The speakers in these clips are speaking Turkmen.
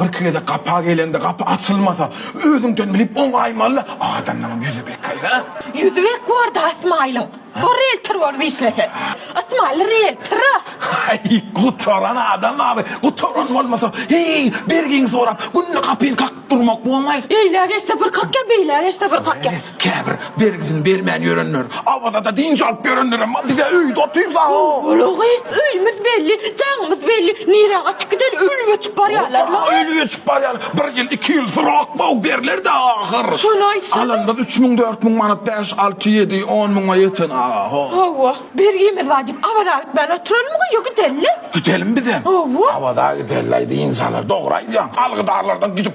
Birki gezek gapa gelende gapy açylmasa, özüňden bilip oňaýmaly-da, adamlaryň ýüzi bekaý, hä? Ýüzi bek bor-da Ysmaýylyň. Bu rieltor bolup işlese. Ysmaýyl rieltor-a. Aý, gutaran adam awy. Gutaran bolmasa, heý, bergini sorap, günde gapyny kakyp durmak bolmaý. Eýläge-eşde bir kakýa, beýläge-eşde bir kakýa. Käbir bergisini bermän ýörenler, Awazada dynç alyp ýörenlerem bar, bize öýde otyr-da. Gulagy, öýümiz belli, jaňymyz belli, nirä gaçyp gideli, öli göçüp barýarlar. Hop-a, öli göçüp barýar, bir ýyl, iki ýyl syrak bow berler-de ahyr. Şony aýtsana. Alanymyz üç müň, dört müň manat, bäş, alty, ýedi, on müňe ýeten aga, ho. Hawa, bergimiz bar diýip, Awaza gitmän oturalymyka ýa gidelimi? Gidelim bizem. Hawa. Awaza gideli-aý, dynç alar, dogry aýdýaň. Algydarlardan gidip,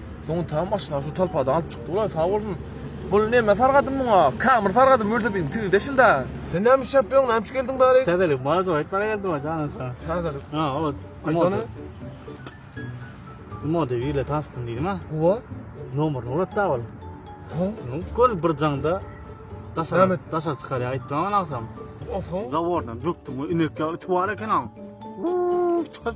Soň tam maşyna şu talpada alyp çykdy ulan sag bolsun. Bul neme sargadym muňa? Kamyr sargadym mürze bin tigir deşil da. Sen näme iş ýapýaň? Näme iş geldiň bäri? Täzelik bana jogap etmäge geldim ha jana sag. Täzelik. Ha, o. Aýdany. Mode ile tanşdym diýdim ha. Owa. Nomer urat da bol. Ha. Gol bir janda daşa daşa çykar aýtdym ana agsam. Oho. Zawordan döktüm. Inek ýaly tuwar eken ha. Uuu, çat.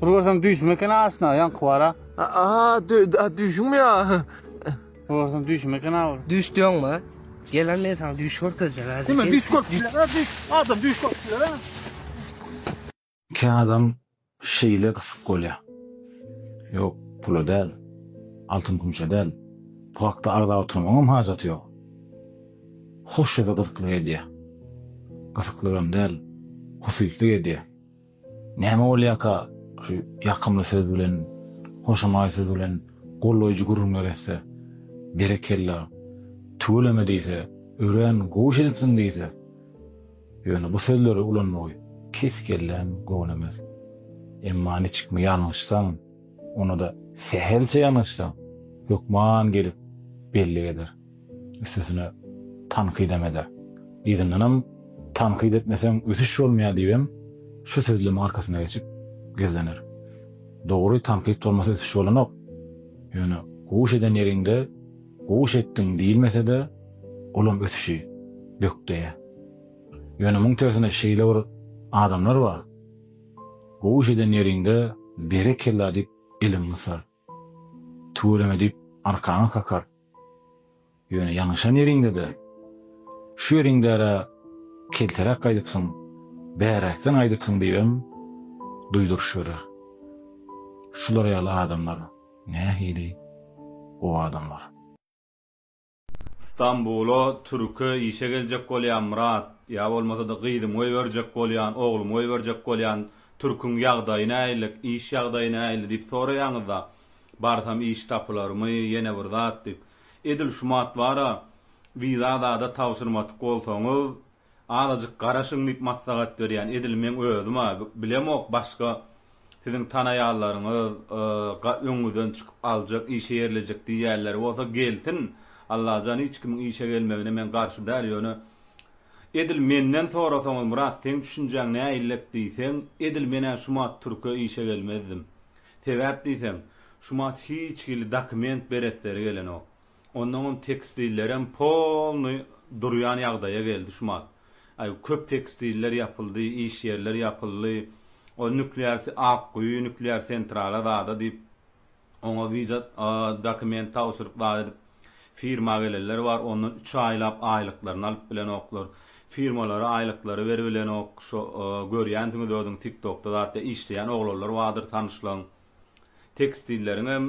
Bul görsem düýşüm eken aşna, ýaňky bara. Aa, düýşüňmi ýa? Bul görsem düýşüm eken awy. Düýş diýoňmy? Gelen men saňa düýş görkezjek häzir. Kim düýş görkezjek? Adam düýş görkezjek. Kä adam şeýle gysyk bolýar. Ýok, pula däl. Altyn-kümşe däl. Bu hakda agzap oturmagyňam hajaty ýok. Hoş ýa-da gyzyklyk edýär. Gysyklygam däl, husytlyk edýär. Näme bolýarka, şu ýakymly söz bilen, hoşamaý söz bilen goldaýjy gürrüňler etse, berekella, tüweleme diýse, örän gowy iş edipsiň diýse, ýöne bu sözleri ulanmagy kes-kelläm gowunemez. Emma niçikmi ýalňyşsaň, onda-da sähelçe ýalňyşsaň, hökman gelip bellik eder. Üstesine tankydam eder. Yzyndanam Tankyt etmeseň ösüş bolmaýar diýibem şu sözlemiň arkasyna geçip gizlener. Dogry tankyt bolmasa ösüş bolanok. Ýöne guş eden ýeriňde guş etdiň diýilmesede olam ösüşi bökdeýär. Ýöne muň tersine şeýle bir adamlar bar. Guş eden ýeriňde berekella diýip eliňi gysar. Tüweleme diýip, arkaňy kakar. Ýöne ýalňyşan ýeriňde-de, şu ýeriňde-ä kelteräk gaýdypsyň, bäräkden aýdypsyň diýibem duýduryş berer. Şular ýaly adamlar nähili gowy adamlar. Stambula türke işe geljek bolýan Myrat ýa bolmasa-da gyzym goýberjek bolýan, oglum goýberjek bolýan türküň ýagdaýy näilik, iş ýagdaýy näili diýip soraýaňyzda, barsam iş tapylarmy, ýene bir zat diýip. Edil şumat bar-a, wiza zada tabşyrmatyk bolsaňyz, Azajyk garaşyň diýip maslahat berýän edil meň özüm a bilemok başga siziň tanaýanlaryňyz ga öňüňizden çykyp aljak işe ýerlejek diýýänleri bolsa gelsin Allajan hiç kimiň işe gelmegine men garşy däl ýöne edil menden sorasaňyz Myrat seň düşünjäň näillek diýseň edil menä şumat türke işe gelmezdim sebäp diýseň şumat hiç hili dokument beresleri gelenok Onnoňam tekstillerem polnyý durýan ýagdaýa geldi şu mal. Aý köp tekstiller ýapyldy, iş ýerler ýapyldy. O nüklear Akguýy nüklear sentrala zada diýip oňa wiza dokument tabşyryp zat edip firma gelenler bar ondan üç aýlap aýlyklaryny alyp bilenoklar. Firmalara aýlyklary beribilenok şo görýänsiňiz özüňiz tiktokda zatda işleýän oglanlar bardyr tanyşlaň. Tekstilleriňem,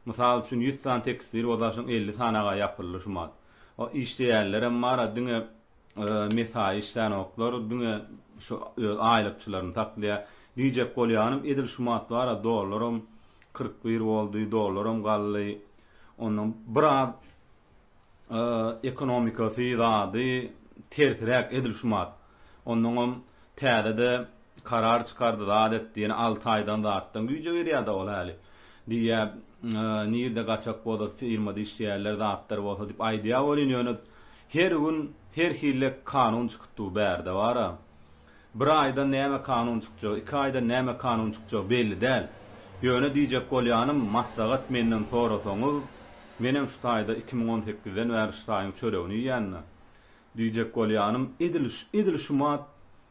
mysal üçin, ýüz sany tekstil bolsa, şoň elli sanaga ýapyldy şu mat. O işleýänlerem bar-a, diňe mesaýy işlänoklar, diňe şu öz aýlykçylaryny saklaýar. Diýjek bolýanym, edil şu mat bar-a, dollaram kyrk bir boldy, dollaram galdy. Ondan biraz ekonomikasy zady tersiräk edil şumat onnoňam täzede karar çykardy zat etdi ýene alty aýdan zatdan güýje girýäda ol häli diýýä nirde gaçak bolsa firmada işleýärler zatlar bolsa diýip aýdýa welin ýöne her gün her hille kanun çykyp dur bärde bara. Bir aýda näme kanun çykjagy, iki aýda näme kanun çykjagy belli däl. Ýöne diýjek bolýanym, maslahat menden sorasaňyz, menem şu taýda iki müň on sekizden bäri şu taýyň çöregini iýýän-de. Diýjek bolýanym, edil, edil şu mat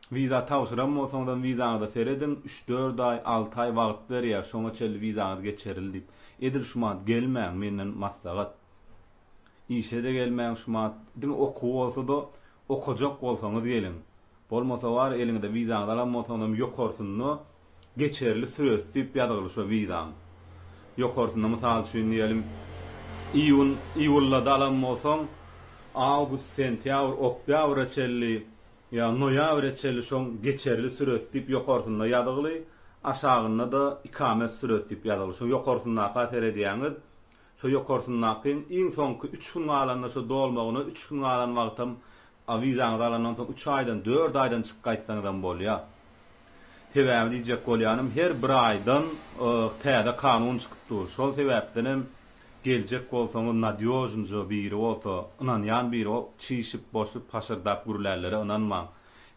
wiza tabşyran bolsaňyzam wizaňyza serediň, üç-dört aý, alty aý wagt berýär, şoňa çenli wizaňyz geçeril diýip. Edil şu mat gelmäň, menden maslahat. Işe-de gelmäň şu mat, diňe okuw bolsa-da, okajak bolsaňyz geliň. Bolmasa bar, eliňizde wizaňyzy alan bolsaňyzam ýokarsynda geçerli süresi diýip ýazgyly şo wizaň. Ýokarsynda, mysal üçin diýelim, iýun, iýullada alan bolsaň, awgust, sentýabr, oktýabra çenli ýa noýabra çenli şoň geçerli süresi diýip ýokarsynda ýazgyly, aşagynda-da ikamet süresi diýip ýazgyly. Şo ýokarsyndaky-a seredýäňiz, Şo ýokarsyndaky iň soňky üç gün galanda şo dolmagyna üç gün galan wagtam a wizaňyzy alandan soň üç aýdan dört aýdan çyk gaýtsaňyzam bolýar. Sebäbi diýjek bolýanym her bir aýdan yyh täze kanun çykyp dur. Şol sebäpdenem geljek bolsaňyz nadýožnja biri bolsa, ynanýan biri bol, çişip, boşup, haşyrdap gürlänlere ynanmaň.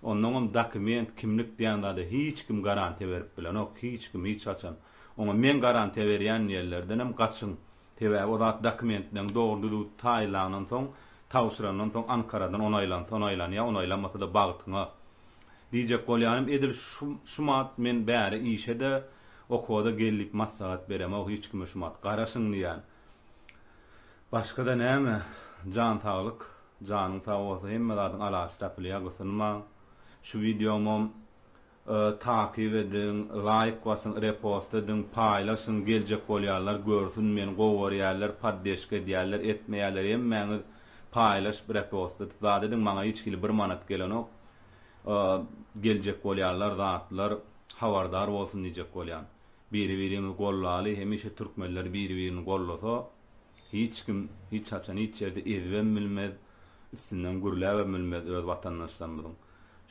Onnoňam dokument, kimlik diýen zada hiç kim garantiýa berip bilenok, hiç kim hiç haçan. Oňa meň garantiýa berýän ýerlerdenem gaçyň. Sebäbi o zat dokumentleň dogry-düzüw taýylandan soň, tabşyrandan soň Ankaradan onaýlansa onaýlanýar, onaýlanmasa-da bagtyňa. Diýjek bolýanym, edil şu, şumat men bäri işe-de, okuwa-da gel diýip maslahat beremok hiç kime şumat. Garaşyň diýýän. Başga-da näme? Jan saglyk. Janyň sag bolsa hemme zadyň alajy tapylýar, gysynmaň. Şu wideomam Takyk ediň, laýk basyň, repost ediň, paýlaşyň, geljek bolýanlar görsün, meni gowy görýärler, poddeşka edýärler, etmeýärler, hemmäňiz paýlaşyp, repost edip zat ediň, maňa hiç hili bir manat gelenok, geljek bolýanlar zatlar habardar bolsun diýjek bolýan. Biri biriňizi gollaly, hemişe türkmenler biri birini gollasa, hiç kim, hiç haçan hiç ýerde ezibem bilmez, üstünden gürläbem bilmez öz watandaşlarymyzyň.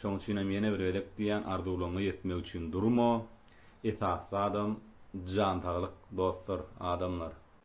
Şoň üçinem ýene bir gezek diýýän arzuwlaryňa ýetmek üçin durma. Esasy zadam jan saglyk dostlar, adamlar.